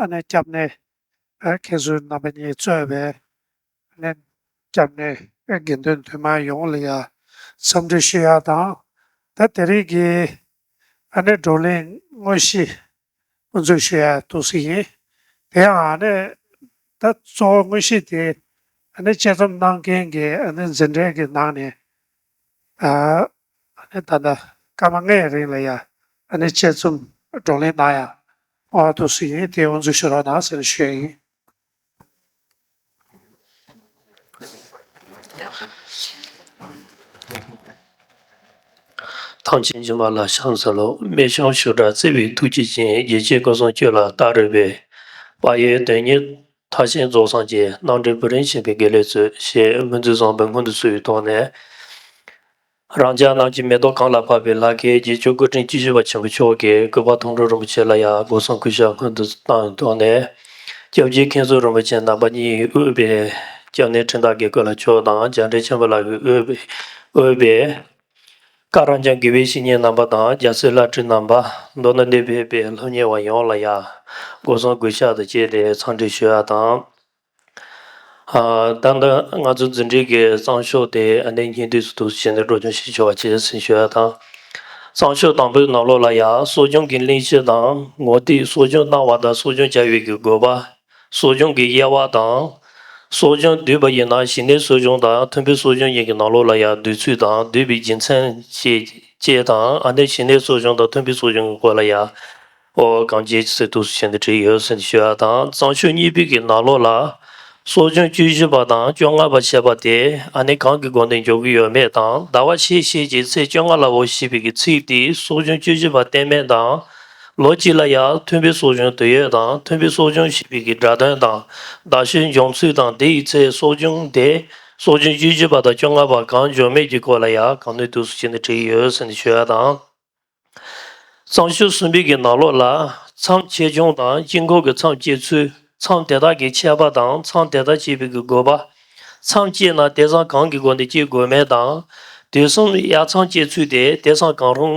ནས་སྐྱབས་གནས་མཁན་ཟུར་རྣམ་པ་གཉིས་གཙོས་པའི་ནས་སྐྱབས་གནས་དགེ་འདུན་འདུས་མང་ཡོངས་ལ་ཡང་འཚམས་འདྲི་ཞུ་ཡག་དང། ད་དེ་རིང་གི་ཨ་ནེ་བགྲོ་གླེང་དངོས་གཞི་དབུ་འཛུགས་ཞུ་ཡག་ཐུགས་གསུ་ཡིན། དེ་ཡང་ཨ་ནེ་ད་གཙོ་བོ་དངོས་གཞི་དེ་ཨ་ནེ་དཔྱད་རྩོམ་གནང་མཁན་གྱི་ཨ་ནེ་འཛིན་གྲྭའི་གི་ནང་ནས་ཨ་ནི་ད་ལྟ་སྐར་མ་ལྔའི་རིང་ལ་ཡང་ཨ་ནི་དཔྱད་རྩོམ་བགྲོ་གླེང་གནང་ཡང་ཨོ་ཨ་ཐུགས་སུ་ཡིན་དེ་དབུ་འཛུགས་ཞུ་རོགས་གནང་ཟེར་ཞུས་ཡིན། ཐང་ཆེན་རྗེ་མ་ལ་ཤང་ཟེར་ལོ་སྨད་ཆུང་ཤུར་སྦྲ་རྩེ་བའི་ཐུགས་རྗེ་ཅན་རྒྱལ་གཅེས་སྐུ་གསུང་ཆོས་ལ་བལྟ་རོལ་པའི་དཔའ་ཡོལ་དོན་གཉེར་མཐར་ཕྱིན་རྫོགས་སངས་རྒྱས་སྣང་འདྲེན་བུ་རིན་ཆེན་པའི་དགེ་ལེགས་མཛོད་ཞེས་སྨོན་ཚིག་བཟང་པོའི་སྔོན་དུ་ཚུད་ཡོད་དོགས་ནས། རང་ཅག་རྣམས་ཀྱི་མེ་ཏོག་གངས་ལ་ཕབ་པའི་ལྷ་སྐལ་རྒྱལ་མཆོག་སྐུ་ཕྲེང་བཅུ་བཞི་པ་ཆེན་པོ་མཆོག་གི་སྐུ་པར་མཐོང་གྲོལ་རིན་པོ་ཆེ་ལ་ཡང་སྒོ་སྲུང་སྐུ་ཞབས་སྔོན་དུ་བཏང་ཡོད་དོགས་ནས། སྐྱབས་རྗེ་མཁན་ཟུར་རིན་པོ་ཆེ་རྣམ་པ་གཉིས་དབུས་པའི་སྐྱབས་གནས་འཕྲིན་བདག་དགེ་བསྐོས་ལ་མཆོག་དང་འཇམ་འཕྲེང་ཆེན་པོ་ལགས་ཀྱི་དབུས་པའི། བཀའ་རང་འགྱངས་དགེ་བའི་བཤེས་གཉེན་རྣམ་པ་དང་རྒྱ་མཚོའི་བླ་སྤྲུལ་རྣམ་པ། མདོར་ན་གནས་སྤོས་པའི་སློབ་གཉེར་བ་ཡོངས་ལ་ཡང་སྒོ་སྲུང་གུས་ཕྱག་ཏུ་བཅས་ཏེ་འཚམས་འདྲི་ཞུ་ཡ་དང། ད་ལྟ་ང་ཚོ་འཛིན་གྲྭའི་གི་གཙང་ཤོག་དེ་གནས་ཉིན་དུས་སུ་དུས་སུ་བྱས་ནས་སྒྲོག་སྦྱོང་ཞིག་ཞུ་བ་བྱས་ཟིན་ཞུ་ཡ་དང། གཙང་ཤོག་དང་པོའི་ནང་ལོགས་ལ་ཡང་གསོ་སྦྱོང་གི་གླེང་གཞི་དང་ངོ་ཏིག་གསོ་སྦྱོང་གནང་བ་དང་གསོ་སྦྱོང་བྱ་ཡུལ་གྱི་དགོས་པ། གསོ་སྦྱོང་གི་དབྱེ་བ་དང། གསོ་སྦྱོང་བསྡུས་པ་ཡིན་ན་གཞི་གནས་གསོ་སྦྱོང་དང་མཐུན་པའི་གསོ་སྦྱོང་ཡིན་གྱི་ནང་ལོགས་ལ་ཡང་བསྡུས་ཚུལ་དང་བསྡུས་པའི་རྒྱུ་མཚན་བཅས་དང་ཨ་ནེ་གཞི་གནས་གསོ་སྦྱོང་དང་མཐུན་པའི་གསོ་སྦྱོང་གི་སྐོར་ལ་ཡང་ཨོ་བ་གངས་རྒྱལ་གྱི་ཚེ་ཐུགས་སུ་བྱས་ནས་བྲིས་ཡོད་ཟེར་ནས་ཞུ་བ་དང་གཙང་ཆུ་གཉིས་པའི་གི་ནང་ལོགས་ལ། གསོ་སྦྱོང་བཅུ་བཞི་པ་དང་བཅོ་ལྔ་པ་བྱས་པ་དེ་ཨ་ནེ་གང་གི་སྒོ་ནས་འཇོག་གི་ཡོད་མེད་དང་ཟླ་བ་ཕྱེད་ཕྱེད་ཀྱི་ཚེས་བཅོ་ལྔ་ལ་འོ་ཞེས་པའི་གི་ཚིག་དེས་གསོ་སྦྱོང་བཅུ་བཞི་པ་གཏན་མེད་དང། ལོ་གཅིག་ལ་ཡར་ཐོན་པའི་གསོ་སྦྱོང་དུས་ཡོད་དང་ཐོན་པའི་གསོ་སྦྱོང་བྱེད་པའི་གི་སྒྲ་དོན་དང་ཟླ་ཤོའི་འབྱུང་ཚུལ་དང་དེ་ཡི་ཚེ་གསོ་སྦྱོང་དེ་གསོ་སྦྱོང་བཅུ་བཅུ་པ་དང་བཅོ་ལྔ་པ་གང་འབྱོར་མེད་ཀྱི་སྐོར་ལ་ཡང་གང་ནུས་དུས་སུ་བྱས་ནས་བྲིས་ཡོད་ཟེར་ནས་ཞུ་བ་དང། གཙང་ཆུ་གསུམ་པའི་གི་ནགས་ལོགས་ལ་མཚམས་ཆེ་ཆུང་དང་དཀྱིལ་འཁོར་གྱི་མཚམས་བཅད་ཚུལ་མཚམས་དེ་དག་གི་ཆད་པ་དང་མཚམས་དེ་དག་བཅད་པའི་གི་དགོས་པ། མཚམས་བཅད་ན་དེ་སང་གང་གི་སྒོ་ནས་བཅད་དགོས་མེད་དང། དུས་གསུམ་ཡར་མཚམས་བཅད་ཚུལ་དེ་དེ་སང་གང་རུང་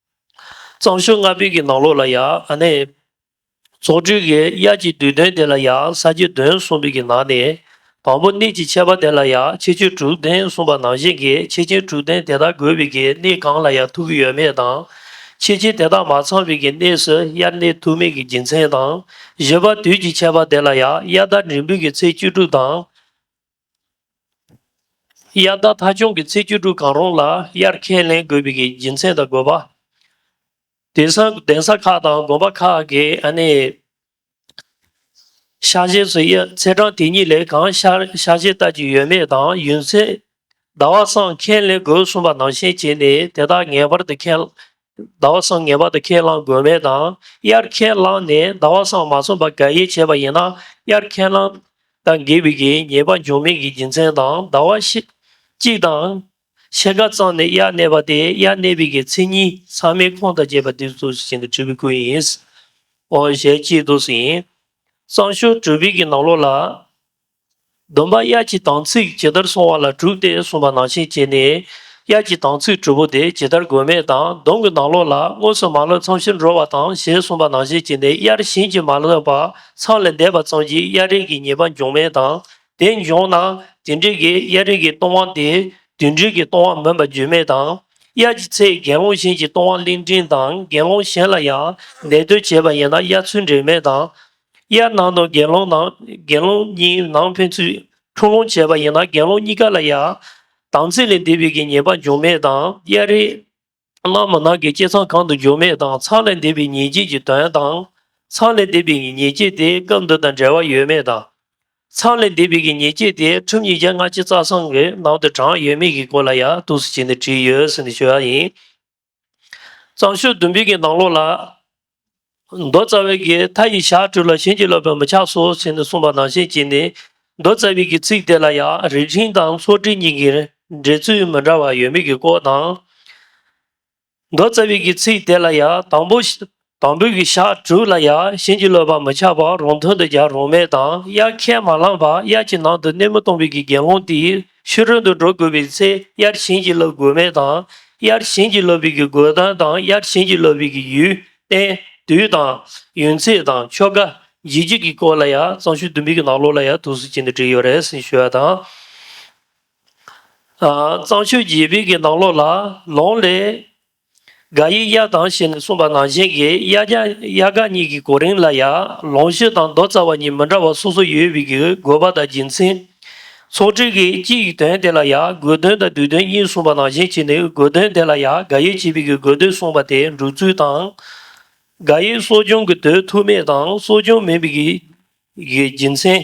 གཙང་ཞོལ་རྔ་བུས་ཀྱི་ནང་ལོགས་ལ་ཡང་ནས། རྫོགས་སྤྲུལ་གྱི་དབྱར་གྱི་བསྡུས་དོན་དེ་ལ་ཡང་ས་བརྒྱད་དོན་གསུམ་པོད་ཀྱི་ནང་ནས། དང་པོ་གནས་ཀྱི་ཁྱད་པར་དེ་ལ་ཡང་ཁྱད་ཆོས་དྲུག་ལྡན་གསུངས་པ་ནང་བཞིན་གྱི་ཁྱད་ཆེན་དྲུག་ལྡན་དེ་དག་དགོས་པོད་ཀྱི་གནས་གང་ལ་ཡང་ཐུག་གི་ཡོད་མེད་དང། ཁྱད་ཆེན་དེ་དག་མ་ཚང་བོད་ཀྱི་གནས་སུ་དབྱར་གནས་ཐུག་མེད་ཀྱི་རྒྱུ་མཚན་དང། བཞི་པ་དུས་ཀྱི་ཁྱད་པར་དེ་ལ་ཡང་དབྱར་ཟླ་འབྲིང་བུ་ཀྱི་ཚེས་བཅུ་དྲུག་དང། དབྱར་ཟླ་ཐ་ཆུང་གི་ཚེས་བཅུ་དྲུག་གང་རུང་ལ་དབྱར་ཁས་ལེན་དགོས་པའི་སྦྱིན་ཚན་དང་དགོས་པ། གདན་ས་ཁག་དང་དགོན་པ་ཁག་གི་ཤག་བཞེས་སུ་དབྱར་ཚེས་གྲངས་དེ་གཉིས་ལས་གང་ཤར་ཤག་བཞེས་ལྟ་ཅི་ཡོད་མེད་དང་ཡུན་ཚད་ཟླ་བ་སྲང་ཁས་ལེན་དགོས་གསུངས་པ་ནང་བཞིན་བྱས་ནས་དེ་དག་ངེས་པར་དུ་ཁས་ཟླ་བ་སངས་ངེས་པ་དང་ཁས་བླངས་དགོས་མེད་དང་དབྱར་ཁས་བླངས་ནས་ཟླ་བ་སངས་མ་ཚུམས་པར་དགག་དབྱེ་བྱས་པ་ཡིན་ན་དབྱར་ཁས་བླངས་དང་དགེ་བའི་གེགས་ཉེས་པ་འབྱུང་མེད་ཀྱི་རྒྱུ་མཚན་དང་ཟླ་བ་ཕྱེད་གཅིག་དང། ཕྱེད་ཀ་གཙང་ནས་དབྱར་གནས་པ་དེ་དབྱར་གནས་པའི་གེགས་ཚེས་གཉིས་ཚང་མའི་ཁོངས་དང་བཅས་པ་འདིར་གཏུགས་ཟིན་གྱི་གྲུབ་པའི་སྐུ་ཡིན། ཞེས་གཅིག་གཏུགས་སུ་ཡིན། གཙང་ཤུར་གྲུབ་པའི་གྱི་ནང་ལོགས་ལ། སྡོམ་པ་དབྱར་གྱི་དམ་ཚིག་ཇི་ལྟར་སྲུང་བ་ལ་གྲུབ་སྟེ་གསུངས་པ་ནང་བཞིན་བྱས་ནས། དབྱར་གྱི་དམ་ཚིག་དྲུག་པོ་དེ་ཇི་ལྟར་དགོས་མེད་དང་སྡོམ་གྱི་ནང་ལོགས་ལ་དངོས་སུ་མ་བསླབས་མཚམས་བཞིར་འགྲོ་བ་དང་ཞེས་གསུངས་པ་ནང་བཞིན་བྱས་ནས་དབྱར་བཞིན་གྱིས་མ་བསླབས་པ་ཚང་ལས་འདས་པ་ཙམ་གྱིས་དབྱར་རིགས་ཀྱི་ཉེས་པ་འབྱུང་མེད་དང་དེ་འབྱུང་ན་དེ་འབྲེལ་གྱི་དབྱར་རིགས་ཀྱི་གཏོང་བ་དེ་དུས་འབྲེལ་གྱི་གཏོང་བ་མིན་པ་རྒྱུས་མེད་དང། དབྱར་གྱི་ཚེས་དགེ་སློང་གཞན་གྱིས་གཏོང་བ་གླིང་ཕྲན་དང་དགེ་སློང་གཞན་ལ་ཡང་ལས་དོན་བྱས་པ་ཡིན་ན་དབྱར་ཚུལ་འབྲེལ་མེད་དང། དབྱར་གནང་དང་དགེ་སློང་ནང་དགེ་སློང་གཉིས་ནང་ཕན་ཚུན་འཁྲུག་ལོང་བྱས་པ་ཡིན་ན་དགེ་སློང་གཉིས་ཀ་ལ་ཡང་དམ་ཚིག་ལས་འདས་པའི་གྱི་ཉེས་པ་འབྱུང་མེད་དང་དབྱར་རེས་གནང་མ་ནང་གི་སྐྱེས་ཚང་གང་དུ་འགྱུར་མེད་དང་ཚང་ལས་འདས་པའི་ཉེས་བྱས་ཀྱི་དོན་དང། ཚང་ལས་འདས་པའི་གྱི་ཉེས་བྱས་དེ་སྐབས་འདི་དང་འབྲེལ་བ་ཡོད་མེད་དང། ཚང་ལས་འདས་པའི་གྱི་ཉེས་བྱས་དེ་ཁྲིམས་ཉིས་བརྒྱ་ལྔ་བཅུ་རྩ་གསུམ་གྱི་ནང་དུ་བགྲངས་ཡོད་མེད་ཀྱི་སྐོར་ལ་ཡང་གཏུགས་སུ་བྱས་ནས་བྲིས་ཡོད་ཟེར་ནས་བྱོས་པ་ཡིན། གཙང་ཤུལ་བདུན་པའི་གྱི་ནང་ལོགས་ལ། མདོ་རྩ་བའི་གྱི་མཐའ་ཡི་ཞག་དྲུག་ལ་བྱིན་གྱིས་རློབ་པའི་མི་ཆགས་སོ་ཞེས་ནས་གསུངས་པ་ནང་བཞིན་གྱིས་ནི། མདོ་རྩ་བའི་གྱི་ཚིག་དེ་ལ་ཡང་རིགས་ཤིང་དང་ཚོགས་སྒྲིགས་གཉིས་ཀྱི་འགྲེལ་ཚུལ་མི་འདྲ་བ་ཡོད་མེད་ཀྱི་སྐོར་དང། མདོ་རྩ་བའི་གྱི་ཚིག་དེ་ལ་ཡང་དང་པོ་དང་པོ་གྱི་ཞག་དྲུག་ལ་ཡང་གཞན་གྱི་བློས་བག་མི་ཆགས་པར་རོང་ཐུང་དུ་རྒྱག་རོང་མལ་དང་དབྱར་ཁས་མ་བླངས་པར་དབྱར་གྱི་ནང་དུ་སྣེ་མོ་སྟོང་བུད་ཀྱི་རྒྱལ་སློང་དེས་ཕྱི་རོལ་དུ་འགྲོ་དགོས་པའི་ཚེ་དབྱར་གཞན་གྱིས་བསླབ་དགོས་མེད་དང་དབྱར་གཞན་གྱིས་བསླབ་བུད་ཀྱི་དགོས་དོན་དང་དབྱར་གཞན་གྱིས་བསླབ་བུད་ཀྱི་ཡུལ་རྟེན་དུས་དང། ཡུན་ཚད་དང་ཆོ་ག། རྗེས་འཇུག་གི་སྐོར་ལ་ཡང་གཙང་ཤུལ་བདུན་པའི་གྱི་ནང་ལོགས་ལ་ཡང་ཐུགས་གསོ་ཅན་དུ་བྲིས་ཡོད་རེད་ཟེར་ཞུ་བ་དང། གཙང་ཤུལ་བརྒྱད་པའི་གྱི་ནང་ལོགས་ལ་ལོང་ལས། དགའ་ཡི་གཡག་དང་ཞེས་ནས་གསུངས་པ་ནང་བཞིན་གྱི་གཡག་རྒྱ་གཡག་དགའ་གཉིས་ཀྱི་གོ་རིམ་ལ་ཡང་ལོངས་སྤྱོད་དང་མདོ་རྩ་བ་གཉིས་མི་འདྲ་བ་སོ་སོ་ཡོད་པའི་གྱི་དགོས་པ་དང་རྒྱུ་མཚན། ཚོགས་སྤྲུལ་གྱི་སྤྱི་ཡི་དོན་དེ་ལ་ཡང་དགོས་དོན་དང་བསྡུས་དོན་གཉིས་གསུངས་པ་ནང་བཞིན་གྱི་ནི་དགོས་དོན་དེ་ལ་ཡང་དགའ་ཡི་བྱེད་པའི་གྱི་དགོས་དོན་གསུངས་པ་དེ་འགྲུབ་ཚུལ་དང། དགའ་ཡི་གསོ་སྦྱོང་གི་དུས་ཐུག་མེད་དང་གསོ་སྦྱོང་མིན་པའི་གྱི་རྒྱུ་མཚན།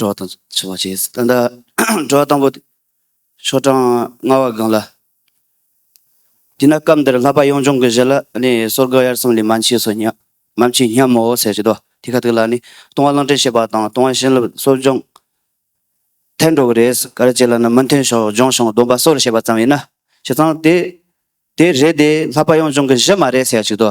གྲོགས་དང་འཆི་བ་བྱེད། ད་ལྟ་གྲོགས་དང་པོ། ཆོ་འབྲང་ལྔ་བ་གང་ལ། དེས་ན་སྐབས་འདིར་ལྷག་པ་ཡོངས་སྦྱོང་གི་གཞི་ལ་ནི་སོར་དགུ་དབྱར་གསུམ་ལས་མ་མཆིས་སོ་སྙམ། མ་མཆིས་སྙམ་མོ་ཟེར་བྱེད་དོ། དེ་ག་དུས་ལ་ནི་ལྟུང་བ་བླང་དྲན་བྱེད་པ་དང་ལྟུང་བ་བྱིན་རླབས་གསོ་སྦྱོང། ཐལ་འགྲོ་བ་རེས་ག་རེ་བྱེད་ལ་ནི་མི་མཐུན་ཕྱོགས་སྦྱོང་ཞིང་སྡོམ་པ་སོར་བྱེད་པ་ཙམ་ཡིན་ན། བྱས་ཙང་དེ། དེ་རེས་དེ་ལྷག་པ་ཡོངས་སྦྱོང་གི་གཞི་མ་རེད་ཟེར་བྱེད་དོ།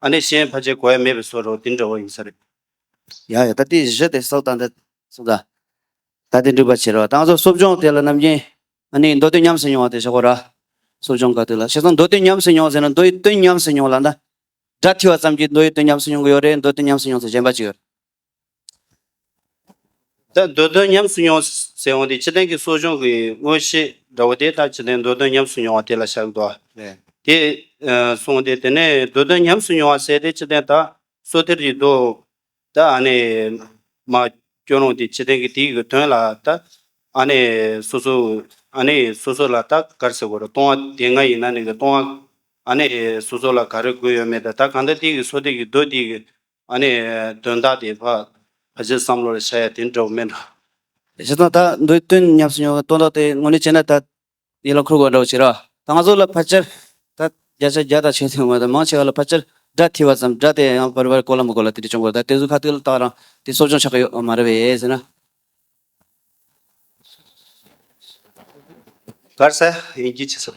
ཨ་ནི་གཞན་ཕ་ཅེ་གོ་ཡ་མེད་པའི་སོ་རོ་དེ་འདྲ་བོ་ཡིན་ས་རེད། ཡང་ཡང་ད་ཏི་བཞི་དེ་སོགས་ད་འདི་སོ་ད། ད་དེ་འགྲུབ་པ་བྱེད་རོགས་ད་ང་ཚོ་གསོབ་སྦྱོང་དེ་ལ་ནམ་རྒྱན་ཨ་ནི་མདོ་དོན་ཉམས་སུ་མྱོང་བ་དེ་བཞག་གོ་ར། གསོབ་སྦྱོང་ག་དུས་ལ་བྱས་ཙང་མདོ་དོན་ཉམས་སུ་མྱོང་ཟེར་ན་མདོ་ཡི་དོན་ཉམས་སུ་མྱོང་ལ་ན། སྒྲ་ཐི་བ་ཙམ་གྱིས་མདོ་ཡི་དོན་ཉམས་སུ་མྱོང་གི་ཡོད་རེད་མདོ་དོན་ཉམས་སུ་མྱོང་ཚེ་གཞན་པ་ཅི་ཡོད། ད་འདོད་དོན་ཉམས་སུ་མྱོང་ཟེར་འོང་དེ་ཕྱི་གཏན་གྱི་གསོ་སྦྱོང་གི་དངོས་གཞི་འདྲ་བོ་དེ་ལྟར་བྱེད་དེ་འདོད་དོན་ཉམས་སུ་མྱོང་བ་དེ་ལ་བཞག་གི་འདུག་བ། དེས་གསུངས་ཏེ་དེ་ནས་འདོད་དོན་ཉམས་སུ་མྱོང་བ་ཟད་དེ་ཕྱི་གཏན་དག་གསོ་ཐལ་གྱི་འདུག་ད་ཨ་ནི་མ་སྐྱོན་རུང་དེ་ཕྱི་གཏན་གྱི་དེའི་གི་དོན་ལ་ད་ཨ་ནི་སོ་སོ་ཨ་ནི་སོ་སོ་ལ་ད་གར་ཟེར་དགོས་རོ་སྟོང་བ་དེ་ང་ཡིན་ན་ནི་གི་སྟོང་བ་ཨ་ནི་སོ་སོ་ལ་གར་དགོས་ཡོད་མེད་ད་གང་ལྟར་དེའི་གི་གསོ་ཐལ་གྱི་འདུག་དེའི་གི་ཨ་ནི་དོན་དག་དེ་ཕ་གཞིས་བསམ་བློ་རེ་བྱ་ཡ་དེ་འདྲ་བོ་མེད་འགྲོ། བྱས་ཙང་ད་འདོད་དོན་ཉམས་སུ་མྱོང་བའི་སྟོང་རྟགས་དེ་དངོས་གནས་བྱས་ན་ད་ཡིད་ལ་འཁུར་དགོས་འདྲ་བོ་བྱེད་རོགས། ད་ང་ཚོ་ལ་ཕལ་ཆེར་ད་བརྒྱ་ཆ་བརྒྱ་དང་ཆོད་དོན་མེད་དོ་མང་ཆེ་བ་ལ་ཕལ་ཆེར་སྒྲ་ཐི་བ་ཙམ་སྒྲ་དེ་ཡང་བར་བར་གོ་ལ་མི་གོ་ལ་དེ་འདྲས་བྱུང་བར་ད་དེ་ཟུར་ཁ་ཐུག་ལ་བཏགས་རང་དེ་གསོ་སྦྱོང་ཆགས་ཀྱི་ཡོད་མ་རེད་བས་ཟེར་ན། གར་སེ་ཡིན་གྱི་ཆི་ཟེར།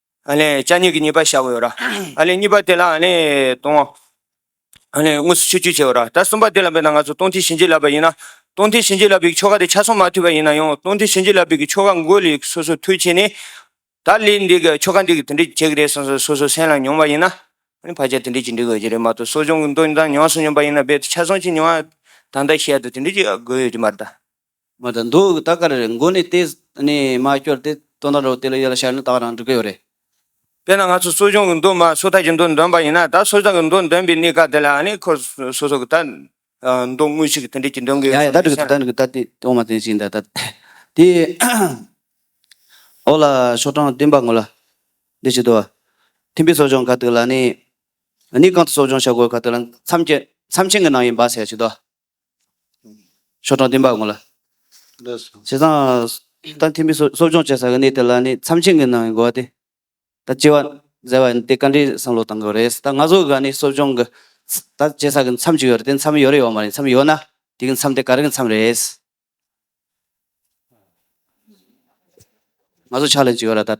ལྕགས་སྙིང་གི་གཉིས་པ་བཞག་གོ་ཡོད་ར། གཉིས་པ་དེ་ལ་སྟོང། དངོས་སུ་ཆོས་སྤྱོད་བྱེད་འོ་ར། ད་གསུམ་པ་དེ་ལ་འབད་ན་ང་ཚོ་སྟོང་ཐིག་བྱིན་གྱིས་བརླབས་པ་ཡིན་ན། སྟོང་ཐིག་བྱིན་གྱིས་བརླབས་པའི་ཆོ་ག་དེ་ཆ་སོགས་མ་མཐུན་པ་ཡིན་ན་ཡང་སྟོང་ཐིག་བྱིན་གྱིས་བརླབས་པའི་གི་ཆོ་ག་འགོད་ལས་སོ་སོ་མཐུ་བྱས་ནས། ད་ལས་འདི་གི་ཆོ་ག་འདི་གི་དེ་འདྲས་བྱེད་ཀྱི་རེད་གསུངས་སོ་སོ་སོའི་སེམས་ལ་མྱོང་བ་ཡིན་ན། བར་ཆད་དེ་འདྲས་ཀྱིས་འདྲི་དགོས་ཀྱི་རེད་མ་གཏོགས་གསོ་སྦྱོང་གི་མདོ་དང་ཉམས་སུ་མྱོང་པ་ཡིན་ན་རྦད་དེ་ཆ་སོང་ཅིག་མྱོང་ཡ། ད་ལྟ་ཤེས་ཡ་དུ་དེ་འདྲས་ཀྱིས་དགོས་ཡོད་ཀྱི་མ་རེད་ད། མ་དང་འདུག་གི་ད་ག་རེ་རེད་མགོ་ནི་ཏེ་ནི་མ་སྐྱོར་ཏེ་སྟོན་ད་རོག་དེ་ལ་ཡོད་ལ་ཤར་ནི་ད་རང་འགྲུ་གི་ཡོད་རེད། དཔེར་ན་ང་ཚོ་གསོ་སྦྱོང་གི་མདོ་མ་སོ་ཐར་གྱི་མདོ་འདོན་པ་ཡིན་ན་ད་སོ་ཐར་གི་མདོ་འདོན་པའི་གནས་སྐབས་དེ་ལ་ནི་ཁོ་སོ་སོ་གི་ད་མདོ་དངོས་གཞི་གི་དེ་འབྲེལ་གྱི་འདོན་གི་ཡོད་ཡ་ཡ་ད་འགྲིག་གི་ད་འགྲིག་གི་ད་དེ་དོག་མ་དེ་ཞིག་འདྲ་ད། དེ་འོག་ལ་ཤོག་གྲངས་བདུན་པ་ངོས་ལ་འདི་ཞིག་འདུག་བ། ཐིམ་པའི་སོ་སྦྱོང་ག་དུས་ལ་ནི་ནི་གང་དུ་སོ་སྦྱོང་བྱ་དགོས་ག་དུས་ལ་མཚམས་མཚམས་ཆེན་གི་ནང་ཡིན་པ་ཟེར་བ་ཞིག་འདུག་བ། ཤོག་གྲངས་བདུན་པ་དགོངས་ལ། བྱས་ཙང། ད་འཐེན་པའི་གསོ་སྦྱོང་བྱེད་ས་གི་གནས་དེ་ལ་ནི་མཚམས་ཆེན་གྱི་ནང་གི་འགོ་བ་སྟེ། ད་སྐྱེ་བ་མཛད་པ་འདི་བཀའ་དྲིན་བསམ་བློ་བཏང་དགོས་རེད། ད་ང་ཚོ་གི་ག་ནི་གསོ་སྦྱོང་གི་ད་བྱེད་ས་གི་མཚམས་ཅིག་ཡོད་རེད་དེ་མཚམས་ཡོད་རེད་ཡོད་མ་རེད་མཚམས་ཡོད་ན་དེ་གི་མཚམས་དེ་ག་རང་གི་མཚམས་རེད། ང་ཚོ་ཕྱག་ལེན་ཅིག་ཡོད་ར་ད།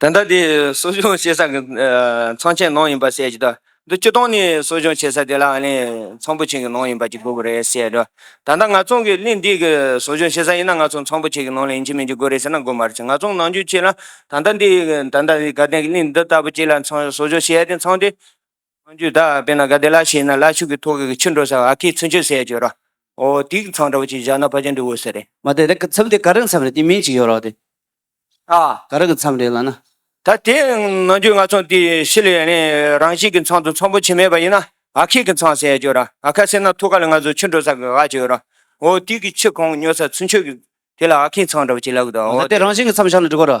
ད་ལྟ་དེ་གསོ་སྦྱོང་བྱེད་ས་གི་ཚང་ཆེན་ནང་ཡིན་པ་བཤད་ཀྱི་འདུག་འདི་སྤྱི་སྟངས་ནི་གསོ་སྦྱོང་བྱེད་ས་དེ་ལ་ཨ་ནེ་ཚང་པོ་ཆེན་གྱི་ནང་ཡིན་པ་གཅིག་དགོས་ཀྱི་རེད་བཤད་ཀྱི་འདུག་ད་ལྟ་ང་ཚང་གི་གླིང་འདི་གི་གསོ་སྦྱོང་བྱེད་ས་ཡིན་ན་ང་ཚང་ཚང་པོ་ཆེ་གི་ནང་ལ་ཡིན་གྱི་མིན་གྱི་དགོས་རེད་ཟེར་ན་དགོས་མ་རེད་ཆེ་ང་ཚང་ནང་རྒྱུ་ཆེ་ལ་ད་ལྟ་འདི་ད་ལྟ་དགའ་ལྡན་གྱི་གླིང་འདི་ལྟ་བུ་གཅིག་ལ་ཚང་གསོ་སྦྱོང་བྱེད་ཡ་དེ་ཚང་དེ་སྔོན་ཆོས་བདག་ཨ་པེ་ན་ག་དེ་ལ་ཤེས་ན་ལ་ཕྱུགས་ཀྱི་ཐོག་གི་ཕྱི་འགྲོ་ས་ཨ་ཁེ་ཚུན་ཆོད་སའི་ཇོ་ར། ཨོ་ཏིག་ཚང་འདྲ་བོ་ཅིག་བཞག་ན་ཕ་ཅན་འདི་འོས་ས་རེད། མ་དེ་དེ་མཚམས་དེ་ག་རེ་མཚམས་རེད་དེ་མིང་ཅིག་ཡོད་རོགས་དེ། ཨ། ག་རེ་གི་མཚམས་རེད་ལ་ན། ད་དེ་ནང་ཆོས་ནག་ཚང་དེ་ཤི་ལས་ནས་རང་བཞིན་གི་མཚམས་དུ་མཚམས་པོ་ཆེ་མེད་པ་ཡིན་ན་ཨ་ཁེ་གི་མཚམས་སའི་ཇོ་ར་ཨ་ཁ་ཟེར་ན་ཐུགས་ཁ་ལ་ང་ཚོ་ཕྱི་འགྲོ་ས་གི་ཨ་ཇོ་ར། ཨོ་ཏིག་གི་ཕྱི་གོང་ཉོ་ས་ཚུན་ཆོད་གི་དེ་ལ་ཨ་ཁེ་ཚང་འདྲ་བོ་ཅིག་ལབ་གི་འདུག་ཨོ། ད་དེ་རང་བཞིན་གི་མཚམས་བཞག་ན་འགྲིག་གོ་ར།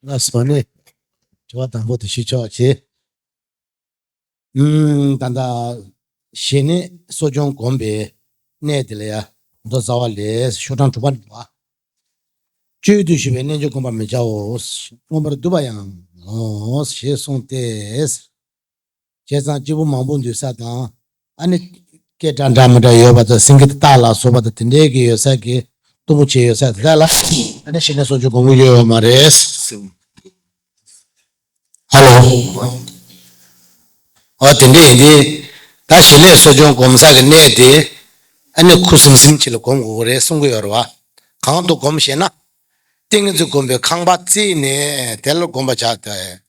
སྔགས་སོགས་ནི། དྲི་བ་དང་པོ་དེ་ཞུས་ཆོག་ཅེས། ད་ལྟ། ཞེས་ནི་གསོ་སྦྱོང་བསྒོམ་པའི་གནས་དེ་ལ་ཡང། མདོ་རྩ་བ་ལས་ཤོག་གྲངས་དྲུག་པ་འདུ་བ། སྤྱོད་ཡུལ་དུ་ཞུགས་པའི་རྣལ་འབྱོར་བསྒོམ་པར་མི་བྱའོ། མངོན་པར་བསྡུ་བ་ཡང་ངོ། ཞེས་གསུངས་ཏེ། བྱས་ཙང་སྐྱེ་བོ་མང་པོ་འདུས་ས་དང། ཨ་ནི། སྐད་གྲགས་འདྲ་མི་འདྲ་ཡོད་པ་དང་སེང་གེ་སྟག་ལ་སོགས་པ་དང་དེ་འདྲའི་གི་ཡོད་ས་གི་གཏུམ་པོ་ཆེ་ཡོད་ས་དེ་དག་ལ་ཨ་ནི་ཞེས་ནས་སོགས་ཀྱི་གོང་བུ་ཡོད་ཡོད་མ་རེད། ཧ་ལོ། འོ་དེ་འདྲ་ཡིན་དུས། ད་ཞེས་ནས་སོགས་ཀྱང་གོམས་ས་གི་གནས་དེ། ཨ་ནི་ཁུ་སིམ་སིམ་གྱི་ལ་གོམས་དགོས་ཀྱི་རེད་གསུང་གི་ཡོད་རེད་བ། གང་དུ་གོམས་ཞེས་ན། ཏིང་ངེ་འཛིན་སྒོམ་པའི་ཁང་པ་བརྩིགས་ནས་དེ་ལ་གོམས་པར་བྱ་དགོས།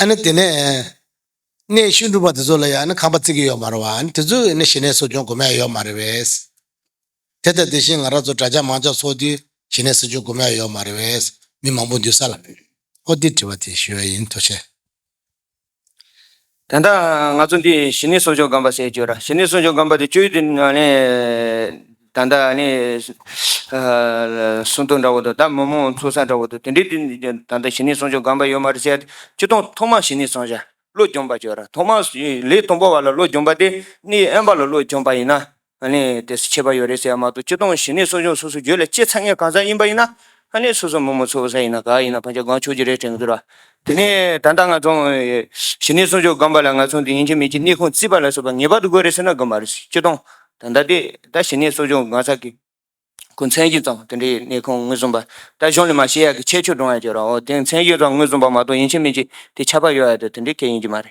ཨ་ནི་དེ་ནས། གནས་ཤིང་སྒྲུབ་པ་དེ་ཚོ་ལ་ཡང་ནི་ཁང་པ་བརྩིག་གི་ཡོད་མ་རེད་བ། ཨ་ནི་དེ་ཚོས་ནི་ཞི་གནས་གསོ་སྐྱོང་དགོས་མེད་ཡོད་མ་རེད་བས། དེ་ལྟ་དེ་བཞིན་ང་རང་ཚོ་དྲ་རྒྱ་མང་ཅག་སོགས་དུས་ཞི་གནས་གསོ་སྐྱོང་དགོས་མེད་ཡོད་མ་རེད་བས། མི་མང་པོ་འདུས་ས་ལ། ཨོ་དེ་དྲི་བ་དེ་ཞུ་བ་ཡིན་ཐུགས་ཆེ། དེ་འདྲ་ང་ཚོ་འདི་ཞི་གནས་གསོ་སྐྱོང་སྒམ་པ་ཟེར་གྱི་ཡོད་ར། ཞི་གནས་གསོ་སྐྱོང་སྒམ་པ་དེ་བཅོས་དུས་ནས། ད་ལྟ་ནི་གསུང་ཐུང་འདྲ་བོ་དང་ད་མོ་མོ་འཚོ་ས་འདྲ་བོ་དང་དེ་འདྲའི་དུས་ནས་ད་ལྟ་བྱིན་ནི་སོང་ཆོག་སྒམ་པ་ཡོད་མ་རེད་ཟེར་སྤྱི་སྟོང་ཐོག་མ་བྱིན་ནི་སོང་བྱ་བློ་འཇོམས་པ་གྱོ་ར་ཐོག་མ་ལས་དང་པོ་བ་ལ་བློ་འཇོམས་པ་དེ་ནི་ཨན་པ་ལ་བློ་འཇོམས་པ་ཡིན་ན་ནི་དེ་སུ་ཆད་པ་ཡོད་རེད་ཟེར་མ་གཏོགས་སྤྱི་སྟོང་བྱིན་ནི་སོང་ཆོག་སོ་སོ་གྱོད་ལ་ཅི་ཚ་ངས་གང་ཚ་ཡིན་པ་ཡིན་ན་ཨ་ནེ་སོ་སོ་མོ་མོ་འཚོ་བ་ས་ཡིན་ན་ག་ཡིན་ན་ཕ་ཆ་གང་ཆོས་ཀྱི་རེ་སྤྲད་མི་འདུག་ར། དེ་ནས་ད་ལྟ་ང་ཚོ་གཞི་ནས་སྲུང་སྐྱོབ་སྒམ་པ་ལ་ང་ཚོ་འདི་ཡིན་གྱི་མིན་གྱི་གནས་ཁུངས་རྩིས་པ་ལ་སོགས་པ་ངེས་པར་དུ་དགོས་རེད་ཟེར་ན་དགོས་མ་རེད་སྤྱི་སྟོང་ད་ལྟ་དེ་ད་གཞི་ནས་གསོ་སྦྱོང་སྒང་ས་གི་སྐུ་མཚན་གྱི་ཙམ་དེ་འདྲའི་གནས་ཁུངས་ངོས་བཟུང་པ་ད་གཞུང་ལས་མ་ཤེས་ཡག་གི་ཁྱད་ཆོས་བགྲང་ཡག་གྱི་ར་འོ་དེ་མཚན་གྱི་ཙམ་ངོས་བཟུང་པ་མ་གཏོགས་ཡིན་གྱི་མིན་གྱི་དེ་ཁྱབ་པ་ཡོད་ཡག་དེ་དེ་འདྲའི་གལ་ཡིན་གྱི་མ་རེད།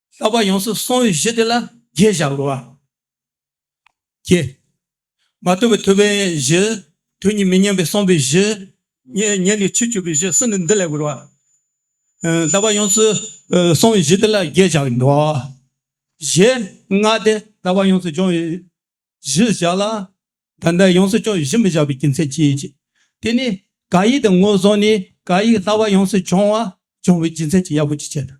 ལྷག་པར་ཡོངས་སུ་སྲུང་བའི་གཞི་དེ་ལ་རྒྱས་བཞག་གོ། ཀྱེ། མ་བཏུལ་བའི་ཐུབ་པའི་གཞི། དོན་གཉིས་མི་སྙན་པའི་གསུངས་པའི་གཞི། ཉན་ནས་ཆོས་སྤྱོད་པའི་གཞི་གསུམ་ནི་འདི་ལས་གོ། ལྷག་པར་ཡོངས་སུ་སྲུང་བའི་གཞི་དེ་ལ་རྒྱས་བཞག་གིན་ནོ། ཞེས་སྔགས་ཏེ། ལྷག་པར་ཡོངས་སུ་སྦྱོང་བའི་གཞི་བཞག་ལ། ད་ལྟར་ཡོངས་སུ་སྤྱོང་བའི་གཞི་མི་བཞག་པའི་རྒྱུ་མཚན་ཅི་ཡིན། དེ་ནི་གང་ཡིན་དེ་ངོས་བཟུང་ནས་གང་ཡིན་ལྷག་པར་ཡོངས་སུ་སྦྱོང་བ་སྦྱོང་བའི་རྒྱུ་མཚན་གྱི་ཡག་པོ་ཅི་བྱེད་དམ།